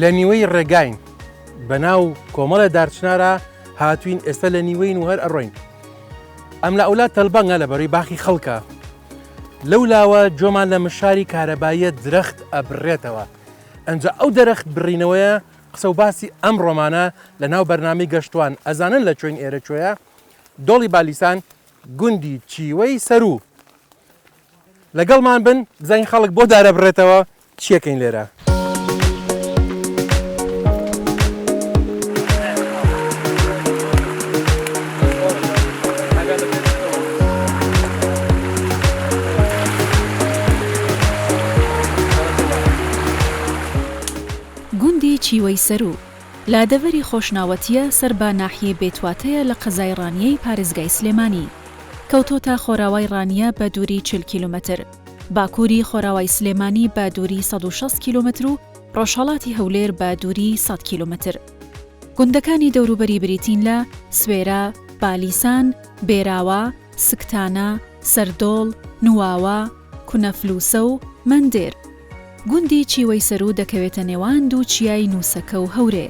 لە نیوەی ڕێگاین بە ناو کۆمەڵە دارچنارە هاتوین ئێستا لە نیوەین و هەر ئەڕۆین ئەم لە ئەولا تەلبەنگە لە بەری باخی خەڵکە لەو لاوە جۆمان لە مشاری کارەباییە درەخت ئەبرێتەوە ئەجا ئەو دەرەخت بڕینەوەیە قسە و باسی ئەم ڕۆمانە لە ناو بەرنامی گەشتوان ئەزانن لە چۆین ئێرە چۆیە دۆڵی بالیسان گوندی چیوەی سەروو لەگەڵمان بن بزانین خەڵک بۆ دارەبڕێتەوە چیەکەین لێرە. گوندی چیوەی سەروو لادەڤەری خۆشناوەتییە سەر بە ناحیەی بێتواتەیە لە قەزای ڕانیەی پارێزگای سلێمانی. کەوتۆتە خۆراوای ڕانیە بە دووری چل کیلۆمەتر، باکووری خۆراوای سلێمانی بە دووری سەد و شەست کیلۆمەتر و ڕۆژهەڵاتی هەولێر بە دووری سەد کیلۆمەتر. گوندەکانی دەوروبەری بریتین لە، سوێرە، بالیسان، بێراوە، سکتانە، سەردۆڵ، نواوە، کونەفلوسە و مەندێر. گوندی چیوەی سەروو دەکەوێتە نێوان دوو چیای نووسەکە و هەورێ.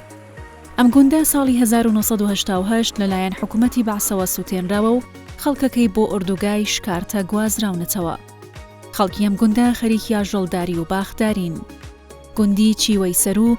ئەم گوندە ساڵی هەزار و نۆ سەد و هەشتا و هەشت لەلایەن حکوومەتی بەعسەوە سووتێنراوە و خەڵکەکەی بۆ ئۆردوگای شکارتە گوازراونەتەوە. خەڵکی ئەم گوندە خەریکی ئاژەڵداری و باخدارین. گوندی چیوەی سەروو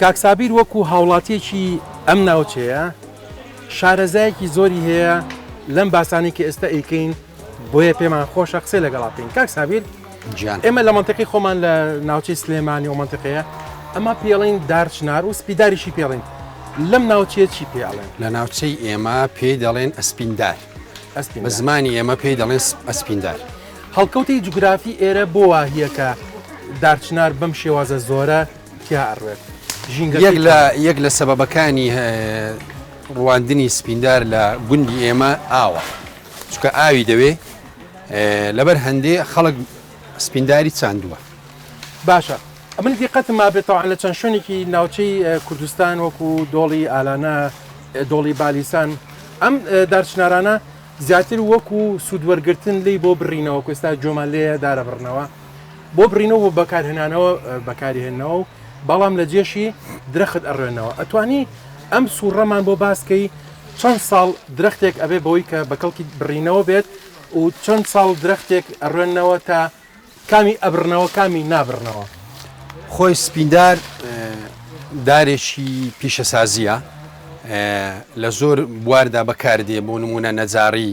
کاک سابیر وەکو هاوڵاتیەکی ئەم ناوچەیە شارەزایەکی زۆری هەیە لەم باسانەی کە ئێستا ئەیکەین بۆیە پێمان خۆشە قسەی لەگەڵا بکەین کاک سابیر گیان ئێمە لە منطقی خۆمان لە ناوچەی سلێمانی و منطقەیە ئەمە پێڵین دارچنار و سپیداریشی پێڵین لەم ناوچەیە چی پێڵێن لە ناوچەی ئێمە پێی دەڵێن ئەسپیندار ئەسپین بە زمانی ئێمە پێی دەڵێن ئەسپیندار هەڵکەوتی جوگرافی ئێرە بۆ واهیەکە دارچنار بەم شێوازە زۆرە تیا ئەڕوێت یەک لە یەک لە سەبەبەکانی ڕواندنی سپیندار لە گوندی ئێمە ئاوە چکە ئاوی دەوێ لەبەر هەندێ خەڵک سپینداری چاندووە باشە ئەمن دیقەتم ما بێتەوە لە چەند شوێنێکی ناوچەی کوردستان وەکو دۆڵی ئالانە دۆڵی بالیسان ئەم دارچنارانە زیاتر وەکو سوودوەرگتن لی بۆ بڕینەوە کوێستا جۆمان لێ دارە بڕنەوە بۆ بڕینەوە بۆ بەکارهێنانەوە بەکاریهێنەوە بەڵام لە جێشی درەخت ئەڕێنەوە ئەتوانی ئەم سوڕەمان بۆ باسکەی چەند ساڵ درەختێک ئەبێ بەوەی کە بە کەڵکی بڕینەوە بێت و چەند ساڵ درەختێک ئەڕێنەوە تا کامی ئەبرنەوە کامی نابرنەوە خۆی سپیندار دارێکی پیشەسازیە لە زۆر بواردا بەکاردێ بۆ نمونە نەجاڕی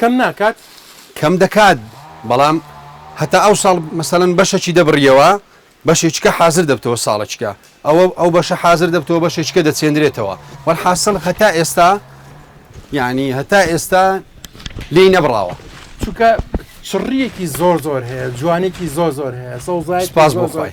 کەم ناکات؟ کەم دەکات بەڵام هەتا ئەو ساڵ مەسەلەن بەشەکی دەبڕیەوە بەشێکیکە حازر دەبتەوە ساڵەکیکە ئەوە ئەو بەشە حازر دەبتەوە بەشێکیکە دەچێندرێتەوە وەلحاسڵ هەتا ئێستا یعنی هەتا ئێستا لێی نەبراوە چونکە چڕیەکی زۆر زۆر هەیە جوانێکی زۆر زۆر هەیە سەوزای سپاس بۆ زۆر زۆر. خۆی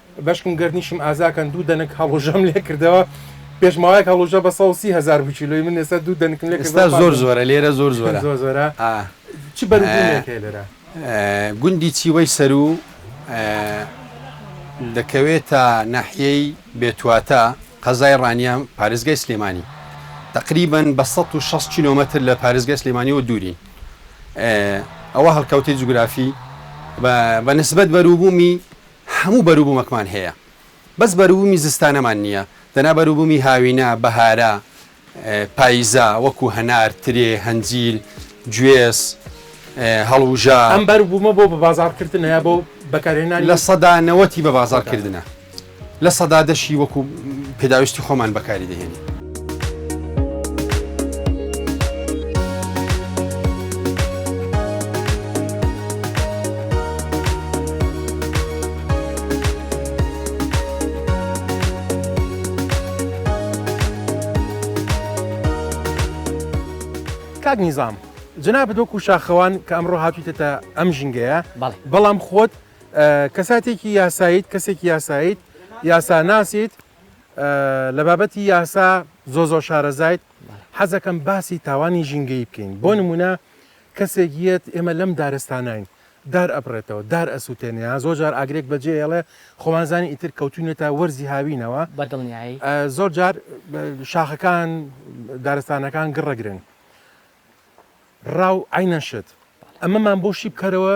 بەشکم گەردنیشم ئازاکەن دوو دەنک هەڵوژەم لێ کردەوە پێش ماوەیەک هەڵوژە بە سەد و سی هەزار بوو کیلۆی من ئێستا دوو دەنکم لێ کردەوە ئێستا زۆر زۆرە لێرە زۆر زۆرە زۆر زۆرە چ بەروبوومێک هەیە لێرە گوندی چیوەی سەروو دەکەوێتە ناحیەی بێتواتە قەزای ڕانیە پارێزگای سلێمانی تقریبن بە 160 کیلۆمەتر لە پارێزگای سلێمانی و دوورین ئەوە هەڵکەوتەی جوگرافی بە نسبەت بەروبوومی هەموو بەروبومەکمان هەیە بەس بەروبومی زستانەمان نیە دەنا بەروبومی هاوینە بەهارە پایزە وەکو هەنار ترێ هەنجیل گوێز هەڵوژە. ئەم بەروبومە بۆ بەبازاڕکردنە یا بۆ بەکارهێنانی؟ لە سەدا نەوەتی بەبازاڕکردنە لە سەدا دەشی وەکو پێداویستی خۆمان بەکاری دەهێنین. کاک نیزام جنابت وەکو شاخەوان کە ئەمڕۆ هاتوویتە ئەم ژینگەیە بەڵام خۆت کەساتێکی یاساییت کەسێکی یاساییت یاساناسیت لە بابەتی یاسا زۆ زۆر شارەزایت حەزەکەم باسی تاوانی ژینگەی بکەین بۆ نمونە کەسێک یەت ئێمە لەم دارستانین دار ئەبڕێتەوە دار ئەسووتێنەیە زۆر جار ئاگرێک بەجێ ئێڵێ خۆمانزانی ئیتر کەوتونێتە وەرزی هاوینەوە بەدڵنیایی زۆر جار شاخەکان دارستانەکان گڕەگرن ڕاو ئاینەشت ئەمەمان بۆ شی بکەرەوە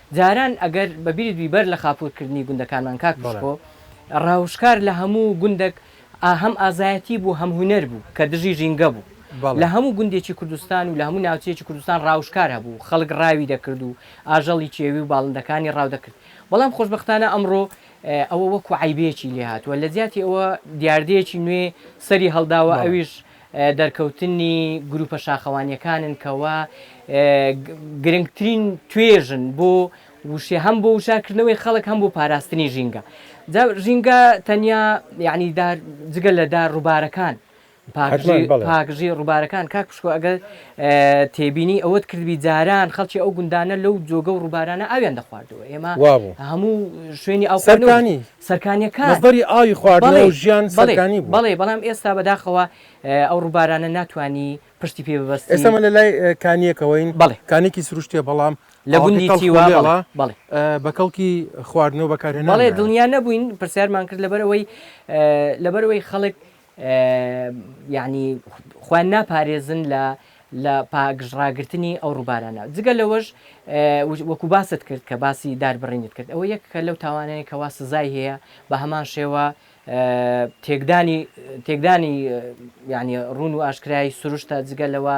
جاران ئەگەر بە بیرت بی بەر لە خاپور کردنی گوندەکانمان کاک پشخۆ ڕاوشکار لە هەموو گوندەک ئا هەم ئازایەتی بوو هەم هونەر بوو کە دژی ژینگە بوو لە هەموو گوندێکی کوردستان و لە هەموو ناوچەیەکی کوردستان ڕاوشکار هەبوو خەڵک ڕاوی دەکرد و ئاژەڵی کێوی و باڵندەکانی ڕاو دەکرد بەڵام خۆشبەختانە ئەمڕۆ ئەوە وەکوو عەیبێکی لێ هاتووە لە جیاتی ئەوە دیاردەیەکی نوێ سەری هەڵداوە ئەویش دەرکەوتنی گروپە شاخەوانیەکانن کەوا گرنگترین توێژن بۆ وشێ هەم بۆ وشارکردنەوەی خەڵک هەم بۆ پاراستنی ژینگە ژینگە تەنیا یعنی جگە لە دار ڕووبارەکان پاکژی ڕووبارەکان کاک پشکۆ ئەگەر تێبینی ئەوەت کردبی جاران خەڵکی ئەو گوندانە لەو جۆگە و ڕووبارانە ئاویان دەخواردەوە ئێمە هەموو شوێنی ئەوسەرانی سەرکانیەکان. مەسدەری ئاوی خواردنەوە بەڵێ و ژیان بەڵێ سەرکانی بوو. بەڵێ بەڵام ئێستا بەداخەوە ئەو ڕووبارانە ناتوانی پشتی پێ ببەستی. ئێستا ئمە لە لای کانیەکەوەین بەڵێ. کانیەکی سروشتیە بەڵام لە ئاوەکەی گوندی تەڵخ و تیوا بەڵێ لێڵە بەڵێ. بە کەڵکی خواردنەوە بەکارهێنان بەڵێ نایە. دڵنیا نەبووین پرسیارمان کرد لەبەرئەوەی لەبەرئەوەی خەڵک یانی خۆیان ناپارێزن لە لە پاگژ ڕاگرتنی ئەو ڕووبارانە جگە لەوەش وەکو باست کرد کە باسی داربڕینت کرد ئەوە یەک کە لەو تاوانەیە کەوا سزای هەیە بە هەمان شێوە تێکدانی تێکدانی یعنی ڕون و ئاشکرای سروشتە جگە لەوە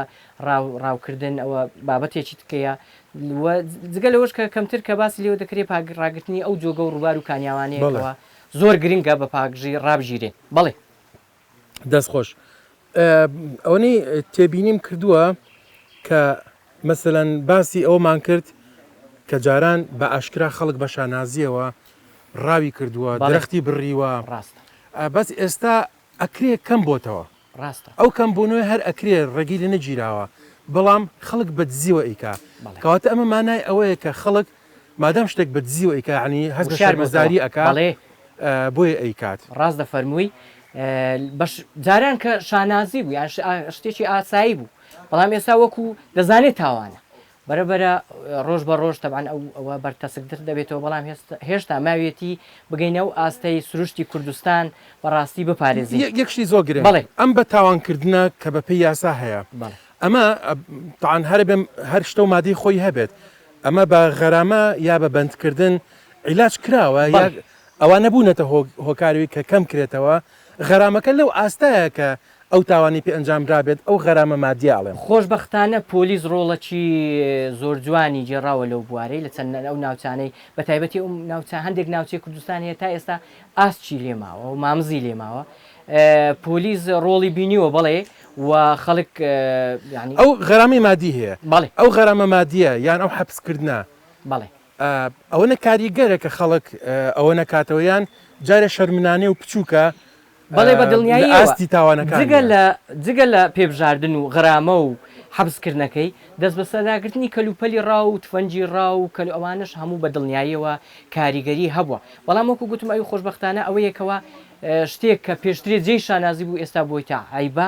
ڕاوکردن ئەوە بابەتێکی تکەیە جگە لەوەش کە کەمتر کە باسی لێوە دەکرێت پاگڕاگرتنی ئەو جۆگە و ڕووبار و کانیاوانەیەەوە زۆر گرنگە بە پاکژی ڕابگیرێین بەڵێ. دەست خۆش ئەوەنەی تێبینیم کردووە کە مەسەەن باسی ئەومان کرد کە جاران بە ئاشکرا خەڵک بە شانازیەوە ڕاوی کردووە بەڵێ. درەختی بڕیوە ڕاستە. بەس ئێستا ئەکرێ کەم بۆتەوە. ڕاستە. ئەو کەم بونوە هەر ئەکرێ ڕێگەی لێ نەگیراوە بەڵام خەڵک بە دزیوە ئەیکا بەڵێ. کەواتە ئەمە مانای ئەوەیە کە خەڵک مادام شتێک بە دزیوە ئەیکا یەعنی هەست بە وشیار بۆتەوە شەرمەزاری ئەکا بەڵێ. بۆیە ئەیکات. ڕاست دەفەرمووی بەش جاران کە شانازی بوو یان شتێکی ئاسایی بوو بەڵام ئێستا وەکو دەزانێ تاوانە بەرەبەرە ڕۆژ بە ڕۆژ تەبعەن ئەو ئەوە بەرتەسکتر دەبێتەوە بەڵام هێستا هێشتا ماویەتی بگەینە ئەو ئاستەی سروشتی کوردستان بە ڕاستی بپارێزین. یەک شتی زۆر گرنگ بەڵێ. ئەم بە تاوان کردنە کە بە پێی یاسا هەیە بەڵێ. ئەمە تەعەن هەرە بێ هەر شتە و مادەی خۆی هەبێت ئەمە بە غەرامە یا بە بەند کردن عیلاج کراوە یا بەڵێ. ئەوانە بوونەتە هۆ هۆکار وی کە کەم کرێتەوە غەرامەکە لەو ئاستایە کە ئەو تاوانی پێ ئەنجام درابێت ئەو غەرامە مادیە ئەڵێم. خۆشبەختانە پۆلیس ڕۆڵەکی زۆرجوانی گێڕاوە لەو بوارەی لە چەند ئەو ناوچانەی بەتایبەتی ئەو ناوچە هەندێک ناوچەی کوردستان هەیە تا ئێستا ئاسکی لێ ماوە و مامزی لێ ماوە پۆلیس ڕۆڵی بینیوە بەڵێ و خەڵک یانی ئەو غەرامەی مادی هەیە بەڵێ ئەو غەرامە مادیە یان ئەو حەپس کردنە بەڵێ ئەوەنە کاریگەرە کە خەڵک ئەوەنە کاتەوە یان جارێ شەرمنانێ و پچووکە بەڵێ بە دڵنیاییەوە جگە لە جگە لە پێبژاردن و غرامە و حەبسکردنەکەی، دەستبەسەرداگرتنی کەلوپەلی ڕا و تفەنگی ڕا و کەلو ئەوانەش هەموو بە دڵنیاییەوە کاریگەری هەبووە. بەڵام وەکو گوتم ئەوی خۆشبەختانە ئەوەیە کەوا شتێک کە پێشترێ جێی شانازی بوو ئێستا بۆیتە عەیبە.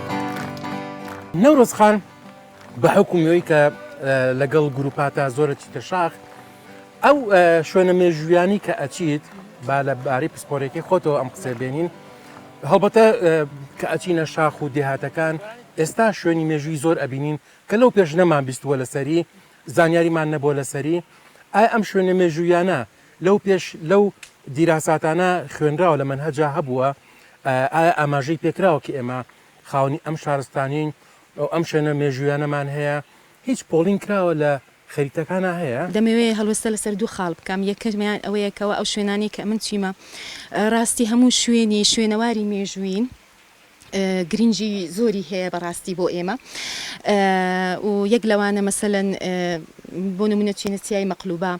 نەورۆز خان بە حکومی ئەوی کە لەگەڵ گروپاتا زۆرە چیتە شاخ ئەو شوێنە مێژویانی کە ئەچیت با لە باری پسپۆرێکی خۆتەوە ئەم قسە بێنین هەڵبەتە کە ئەچینە شاخ و دێهاتەکان ئێستا شوێنی مێژووی زۆر ئەبینین کە لەو پێش نەمان بیستووە لەسەری زانیاریمان نەبووە لەسەری ئایا ئەم شوێنە مێژوویانە لەو پێش لەو دیراساتانە خوێنراوە لە مەنهەجا هەبووە ئایا ئاماژەی پێکراوە کە ئێمە خاونی ئەم شارستانین ئەو ئەم شوێنە مێژویانەمان هەیە هیچ پۆڵین کراوە لە خەریتەکانە هەیە؟ دەمەوێ هەڵوێستە لەسەر دوو خاڵ بکەم، یەکەمیان ئەوەیە کەوا ئەو شوێنانەی کە ئەمن چویمە، ڕاستی هەموو شوێنی شوێنەواری مێژوویین، گرینگی زۆری هەیە بەڕاستی بۆ ئێمە و یەک لەوانە مەسەلەن بۆ نمونە چینە چیای مەقلوبە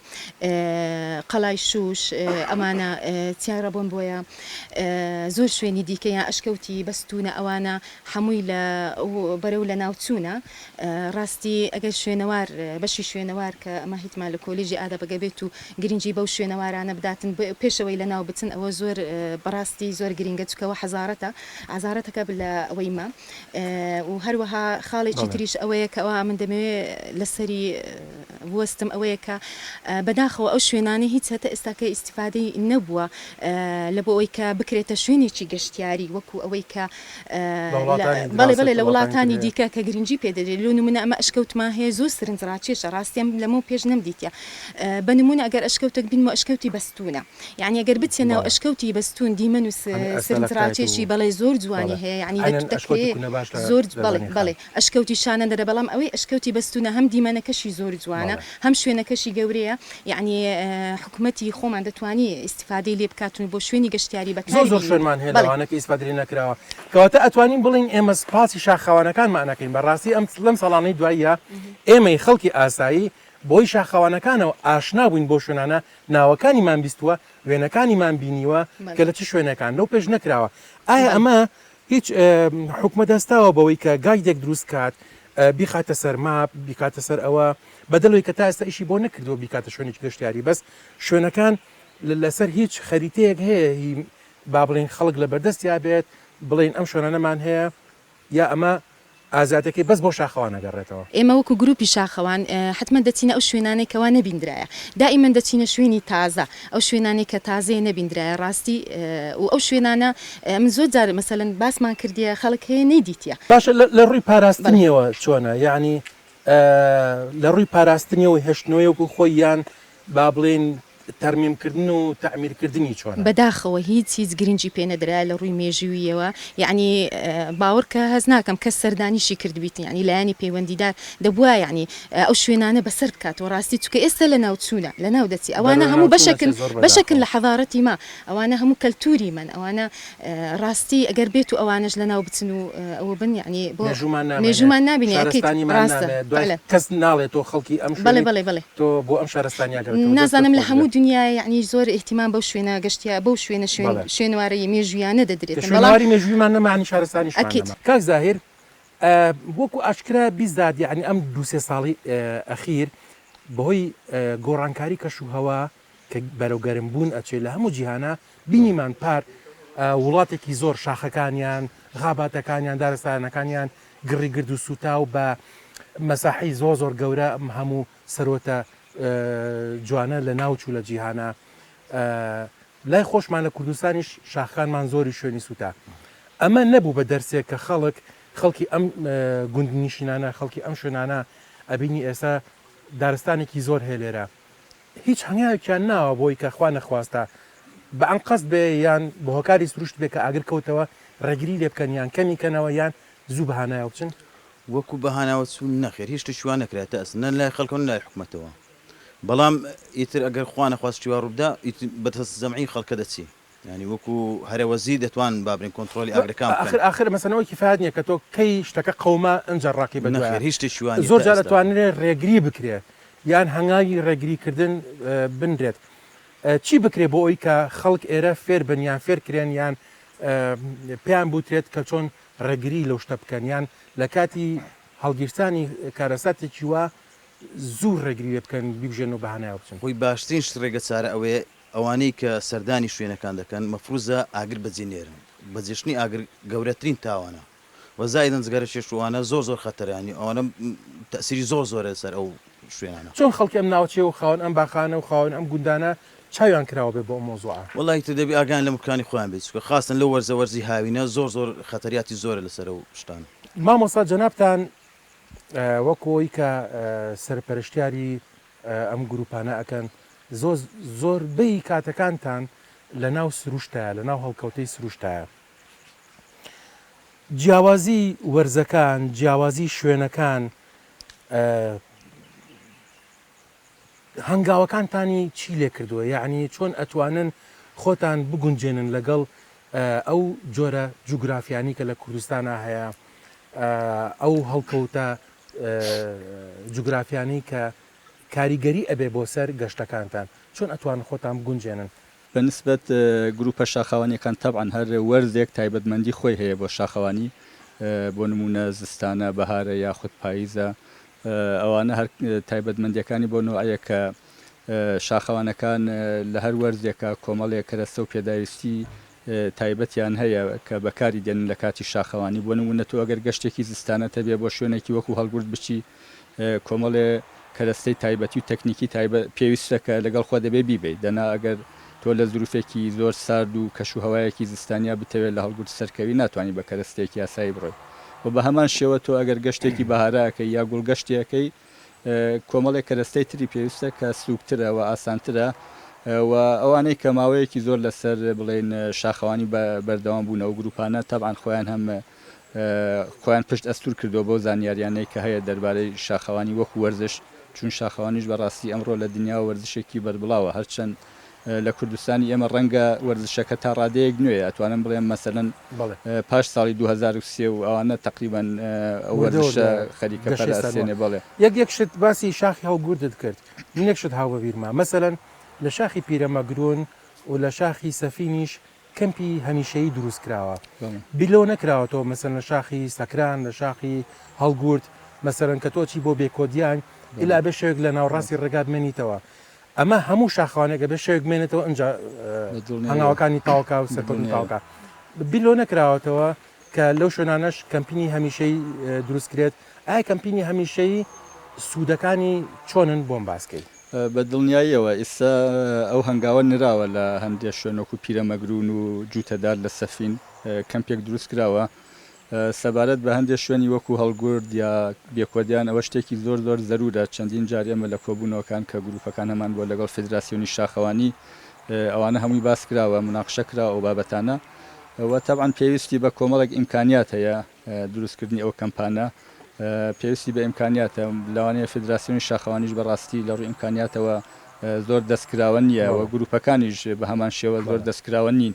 قەلای شوش ئەمانە چیای ڕەبۆن بۆیە زۆر شوێنی دیکەیان ئەشکەوتی بەستونە ئەوانە هەمووی لە بەرەو لە ناوچوونە ڕاستی ئەگەر شوێنەوار بەشی شوێنەوار کە ئەمە هیتمان لە کۆلیژی ئادە بەگەبێت و گرنگی بەو شوێنەوارانە بداتن پێش ئەوەی لەناو بچن ئەوە زۆر بەڕاستی زۆر گرنگە چونکە ئەوە حەزارەتە عەزارەتەکە لە ئەوەی مە و هەروەها خاڵێکی تریش ئەوەیە کە ئەوە من دەمەوێ لەسەری بوەستم ئەوەیە کە بەداخەوە ئەو شوێنانەی هیچ هەتە ئێستاکە ئیسیفادەی نەبووە لە بۆ ئەوەی کە بکرێتە شوێنێکی گەشتیاری وەکو ئەوەی کە بەڵێ بەڵێ لە وڵاتانی دیکە کە گرنگی پێ دەدرێت لۆ نمونە ئەمە ئەشکەوتمان هەیە زۆر سرنج ڕاکێشە ڕاستیم لەمە پێش نەمدیتە بە نمونە ئەگەر ئەشکەوتێک بین و ئەشکەوتی بەستونە یعنی ئەگەر بچێ ناو ئەشکەوتی بەستون دیمەن و سرنج ڕاکێشی بەڵێ زۆر جوانی هەیە یعنی زۆر بەڵێ بەڵێ ئەشکەوتی شانەدەرە بەڵام ئەوەی ئەشکەوتی بەستونە هەم دیمەنەکەشی زۆر جوانە هەم شوێنەکەشی گەورەیە یەعنی حکومەتی خۆمان دەتوانی ئیستیفادەی لێ بکاتن و بۆ شوێنی گەشتیاری بەکاری بێنین زۆر زۆر شوێنمان هەیە لەوانە کە ئیستیفادەی لێ نەکراوە کەواتە ئەتوانین بڵێین ئێمە سوپاسی شاخاوانەکانمان ئەکەین بەڕاستی ئەم لەم ساڵانەی دواییە ئێمەی خەڵکی ئاسایی بۆی شاخەوانەکانەوە ئاشنا بووین بۆ شوێنانە ناوەکانیمان بیستووە وێنەکانیمان بینیوە کە لە چ شوێنەکان لەو پێش نەکراوە ئایا ئەمە هیچ حوکمەت هەستاوە بەوەی کە گایدێک دروست کات بیخاتە سەر ماپ بیکاتە سەر ئەوە بەدلەوەی کە تا ئێستا ئیشی بۆ نەکردووە بیکاتە شوێنێکی گەشتیاری بەس شوێنەکان لەسەر هیچ خەریتەیەک هەیە هی با بڵین خەڵک لە بەردەستیا بێت بڵین ئەم شوێنانەمان هەیە یا ئەمە ئازادیەکەی بەس بۆ شاخەوان ئەگەڕێتەوە. ئێمە وەکو گروپی شاخەوان حەتمەن دەچینە ئەو شوێنانەی کەوا نەبیندرایە دائیمەن دەچینە شوێنی تازە ئەو شوێنانەی کە تازەیە نەبیندرایە ڕاستی و ئەو شوێنانە من زۆر جار مەسەلەن باسمان کردیە خەڵک هەیە نەیدیتیە. باشە لە ڕووی پاراستنیەوە چۆنە یانی لە ڕووی پاراستنیەوە هێشتنەوەی وەکو خۆی یان با بڵێین تەرمیم کردن و تەعمیر کردنی چۆنە؟ بەداخەوە هیچ هیچ گرنگی پێ نەدرایە لە ڕووی مێژووییەوە یەعنی باوەڕ کە هەست ناکەم کەس سەردانیشی کردبیت یەعنی لایەنی پەیوەندیدار دەبوایە یەعنی ئەو شوێنانە بەسەر بکاتەوە ڕاستی چونکە ئێستا لەناو چوونە لەناو دەچی ئەوانە هەموو بەشەکن بەشەکن لە حەزارەتی ما ئەوانە هەموو کەلتووری مەن ئەوانە ڕاستی گەر بێتو ئەوانەش لەناو بچن و ئەوە بن یەعنی بۆ مێژوومان نامێنێ شارستانیمان نامێنێ دوای کەس ناڵێ تۆ خەڵکی ئەم شوێنەی بەڵێ بەڵێ تۆ بۆ ئەم شارستانیە گەڕێ تۆ نازانم لە هەموو دنیا یەعنی زۆر ئیهتیمام بەو شوێنە گەشتیار بەو شوێنە شوێن شوێنەوارەی مێژوویانە دەدرێت بەڵام شوێنەواری مێژوویمان نەما یەعنی شارستانیشمان نەما ئەکید کاک زاهیر وەکو ئاشکرا بیزات یەعنی ئەم دوو سێ ساڵەی ئەخیر بەهۆی گۆڕانکاری کەشوهەوا کە بەرەو گەرم بوون ئەچێ لە هەموو جیهانا بینیمان پار وڵاتێکی زۆر شاخەکانیان غاباتەکانیان دارستانەکانیان گڕی گرد و سووتاو بە مەساحی زۆر زۆر گەورە هەموو سەرۆتە جوانە لە ناوچوو لە جیهانا لای خۆشمان لە کوردستانیش شاخانمان زۆری شوێنی سووتا ئەمە نەبوو بە دەرسێک کە خەڵک خەڵکی ئەم گوندنیشینانە خەڵکی ئەم شوێنانە ئەبینی ئێستا دارستانێکی زۆر هەیە لێرە هیچ هەنگاوێکیان ناوە بۆی کە خوا نەخواستە بە ئەنقەست بێ یان بە هۆکاری سروشت بێ کە ئاگر کەوتەوە ڕێگری لێ بکەن یان کەمی کەنەوە یان زوو بە هانایەوە بچن؟ وەکوو بە هانایەوە چوون، نەخێر هیچ شتێکی وا نەکرا تا ئێستا نە لای خەڵکەوە نە لای حکومەتەوە. بەڵام ئیتر ئەگەر خوا نەخواست شتی وا ڕوو بدا ئیتر بە دەست جەمعی خەڵکە دەچێ. یانی وەکو هەرە وەزیر دەتوان بابرین کۆنتڕۆلی ئاگرەکان بکەن. ئاخر ئاخر مەسەلە ئەوە کیفایەت نیە کە تۆ کەی شتەکە قەوما ئنجا ڕاکەی بە دوایە. نەخێر هیچ شتێکی وا نیە زۆر تا جار ئێستا. ئەتوانرێ ڕێگری بکرێ یان هەنگاوی ڕێگری کردن بنرێت. چی بکرێ بۆ ئەوی کە خەڵک ئێرە فێر بن یان فێر کرێن یان پێیان بوترێت کە چۆن ڕێگری لەو شتە بکەن یان لە کاتی هەڵگیرسانی کارەساتێکی وا زوو ڕێگری لێ بکەن بیبژێن و بەهانایەوە بچن؟ خۆی باشترین شت ڕێگە چارە ئەوەیە ئەوانەی کە سەردانی شوێنەکان دەکەن مەفروزە ئاگر بەجێ نێرن بە جێشتنی ئاگر گەورەترین تاوانە وە زائیدەن جگەرە کێش و ئەوانە زۆر زۆر خەتەرە یانی ئەوانە تەئسیری زۆر زۆرە لەسەر ئەو شوێنانە. چۆن خەڵکی ئەم ناوچەیە و خاوەن ئەم باخانە و خاوەن ئەم گوندانە چاویان کراوە بێ بۆ ئەم مەوزوعە؟ وەڵا ئیتر دەبی ئاگایان لە ملکانی خۆیان بێ چونکە خاستەن لەو وەرزە وەرزی هاوینە زۆر زۆر خەتەریاتی زۆرە لەسەر ئەو شتانە. مامۆستا جەنابتان وەک ئەوەی کە سەرپەرشتیاری ئەم گروپانە ئەکەن زۆر زۆر بەی کاتەکانتان لە ناو سروشتایە لە ناو هەڵکەوتەی سروشتایە جیاوازی وەرزەکان جیاوازی شوێنەکان هەنگاوەکانتانی چی لێ کردووە یعنی چۆن ئەتوانن خۆتان بگونجێنن لەگەڵ ئەو جۆرە جوگرافیانی کە لە کوردستانا هەیە، ئەو هەڵکەوتە جوگرافیانەی کە کاریگەری ئەبێ بۆ سەر گەشتەکانتان، چۆن ئەتوانن خۆتان بگونجێنن؟ بە نسبەت گرووپە شاخاوانییەکان، تەبعەن هەر وەرزێک تایبەتمەندی خۆی هەیە بۆ شاخەوانی، بۆ نموونە زستانە، بەهارە یاخود پاییزە، ئەوانە هەر تایبەتمەندییەکانی بۆ نەوعێکە شاخەوانەکان لە هەر وەرزێکا کۆمەڵێک کەرەستە و پێداویستی تایبەتیان هەیە کە بەکاری دێنن لە کاتی شاخەوانی بۆ نموونە تۆ ئەگەر گەشتێکی زستانەت هەبێ بۆ شوێنێکی وەکوو هەڵگورد بچی کۆمەڵێ کەرەستەی تایبەتی و تەکنیکی تایبەت پێویستە کە لەگەڵ خۆت دەبێ بیبەیت دەنا ئەگەر تۆ لە زروفێکی زۆر سارد و کەش و هەوایەکی زستانیا بتەوێ لە هەڵگورد سەرکەوی ناتوانی بە کەرەستەیەکی ئاسایی بڕۆی و بە هەمان شێوە تۆ ئەگەر گەشتێکی بەهارا ئەکەی یا گوڵگەشتی ئەکەی کۆمەڵێک کەرەستەی تری پێویستە کە سووکترە و ئاسانترە و ئەوانەی کە ماوەیەکی زۆر لەسەر بڵێن شاخەوانی بەردەوام بوون ئەو گروپانە تەبعاان خۆیان هەم خۆیان پشت ئەستور کردو بەو زانیاریانەی کە هەیە دەربارەی شاخەوانی وەکو وەرزش چون شاخەوانیش بەڕاستی ئەمڕۆ لە دنیا وەرزشێکی بەربڵاوە هەرچەند لە کوردستانی ئێمە ڕەنگە وەرزشەکە تا ڕادەیەک نوێیە ئەتوانم بڵێم مەسەلەن پاش ساڵی دوو هەزار و سێ و ئەوانە تەقریبەن ئەو وەرزشە خەریکە پەرەسەندنێ بەڵێ. یەک یەک شت باسی شاخی هەڵگوردت کرد من یەک شت هاو بە بیرمە مەسەلەن لە شاخی پیرەمەگرون و لە شاخی سەفینیش کەمپی هەمیشەیی دروست کراوە بیر لەوە نەکراوەتەوە مەسەلەن لە شاخی سەکران لە شاخی هەڵگورد مەسەلەن کە تۆ ئەچی بۆ بێکۆدیان ئیلا بێ شەوێک لە ناوەڕاستی ڕێگا بمێنیتەوە ئەمە هەموو شاخەوانێک ئەبێت شەوێک بمێنێتەوە ئینجا هەنگاوەکانی تاوکا و سەرکەوتنی تاوکا بیر لەوە نەکراوەتەوە کە لەو شوێنانەش کەمپینی هەمیشەی دروستکرێت ئایا کەمپینی هەمیشەی سوودەکانی چۆنن بۆم باسکەی؟ بە دڵنیاییەوە ئیستا ئەو هەنگاوە نراوە لە هەندێ شوێن وەکو پیرەمەگروون و جووتەدار لە سەفین کەمپێک دروستکراوە سەبارەت بە هەندێ شوێنی وەکو هەڵگورد یا بێکۆدیان ئەوە شتێکی زۆر زۆر زەرورە چەندین جار ئێمە لە کۆبونەوەکان کە گروپەکان هەمان بوە لەگەڵ فیدراسیۆنی شاخەوانی ئەوانە هەموی باس کراوە مناقشە کراوە ئەو بابەتانە وە تەبعەن پێویستی بە کۆمەڵێک ئیمکانیات هەیە دروست کردنی ئەو کەمپانە پێویستی بە ئیمکانیاتە لەوانەیە فیدراسیۆنی شاخەوانیش بەڕاستی لە ڕوی ئیمکانیاتەوە زۆر دەست کراوە نیە وە گروپەکانیش بە هەمان شێوە زۆر دەست کراوە نین.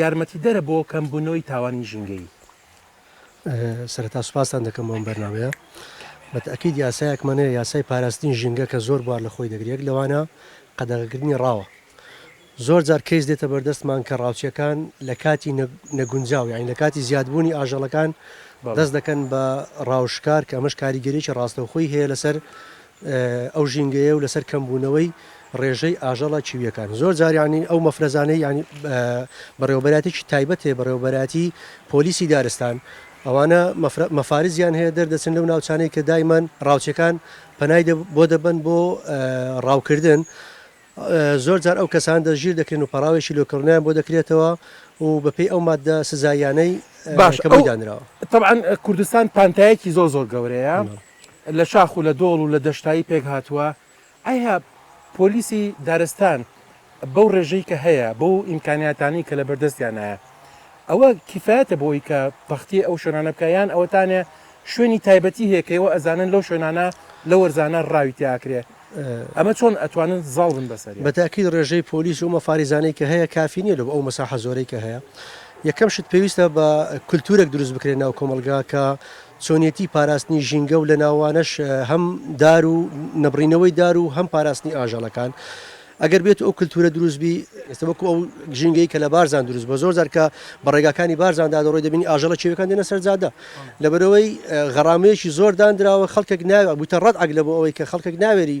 یارمەتیدەرە بۆ کەمبونەوەی تاوانی ژینگەیی. سەرەتا سوپاستان دەکەم بۆ ئەم بەرنامەیە. بە تەئکید یاسایەکمان هەیە، یاسای پاراستنی ژینگە کە زۆر بوار لە خۆی دەگرێت، یەک لەوانە قەدەغەکردنی ڕاوە. زۆر جار کەیس دێتە بەردەستمان کە ڕاوچییەکان لە کاتی نەگونجاو، یانی لە کاتی زیادبوونی ئاژەڵەکان دەست دەکەن بە ڕاو شکار کە ئەمەش کاریگەرییەکی ڕاستەوخۆی هەیە لەسەر ئەو ژینگەیە و لەسەر کەمبوونەوەی ڕێژەی ئاژەڵە کیوییەکان زۆر جار یانی ئەو مەفرەزانەی یانی بەڕێوەبەراتێکی تایبەتێ بەڕێوەبەراتی پۆلیسی دارستان ئەوانە مەفارزیان هەیە دەردەچن لەو ناوچانەی کە دایمەن ڕاوچەکان پەنای بۆ دەبن بۆ ڕاوکردن زۆر جار ئەو کەسان دەژیر دەکرێن و پەراوێکی لۆکردنیان بۆ دەکرێتەوە و بەپێی ئەو مادە سزایانەی باش دانراوە طبعاان کوردستان پانتایەکی زۆر زۆر گەورەیە. لە شاخ و لە دۆڵ و لە دەشتایی پێک هاتووە، ئایا پۆلیسی دارستان بەو ڕێژەی کە هەیە، بەو ئیمکانیاتانەی کە لەبەر دەستیانایە، ئەوە کیفایەتە بۆ ئەوەی کە پەختی ئەو شوێنانە بکا، یان ئەوەتانێ شوێنی تایبەتی هەیە کە ئێوە ئەزانن لەو شوێنانە، لەو وەرزانە ڕاوی تێ ئاکرێ، ئەمە چۆن ئەتوانن زاڵ بن بەسەریا؟ بە تاکید ڕێژەی پۆلیس و مەفاریزانەی کە هەیە کافی نییە لۆ ئەو مەساحە زۆرەی کە هەیە، یەکەم شت پێویستە بە کولتوورێک دروست بکرێ ناو کۆمەڵگا کە چۆنیەتی پاراستنی ژینگە و لەناوانەش هەم دار و نەبڕینەوەی دار و هەم پاراستنی ئاژەڵەکان ئەگەر بێت ئەو کللتورە دروستبی ئێستا وەکو ئەو ژینگەی کە لە بارزان دروست بە زۆر زارکە بە ڕێگاکانی بارزاندا دەڕۆی دەبینی ئاژەڵە چێوەکان دێنە سەرجادە لەبەرەوەی غەڕامەیەکی زۆر دانراوە خەڵکێک ناوە بوتە ڕەت عگلە بۆ ئەوەی کە خەڵکێک ناوێری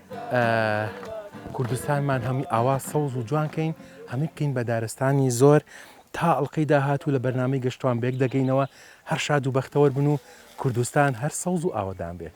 کوردستانمان هەمی ئاوا سەوز و جوان کەین هەمی بکەین بە دارستانی زۆر تا ئەڵلقەی داهات و لە بەرنامەی گەشتوان بێک دەگەینەوە هەر شاد و بەختەوەر بن و کوردستان هەر سەوز و ئاوەدان بێت.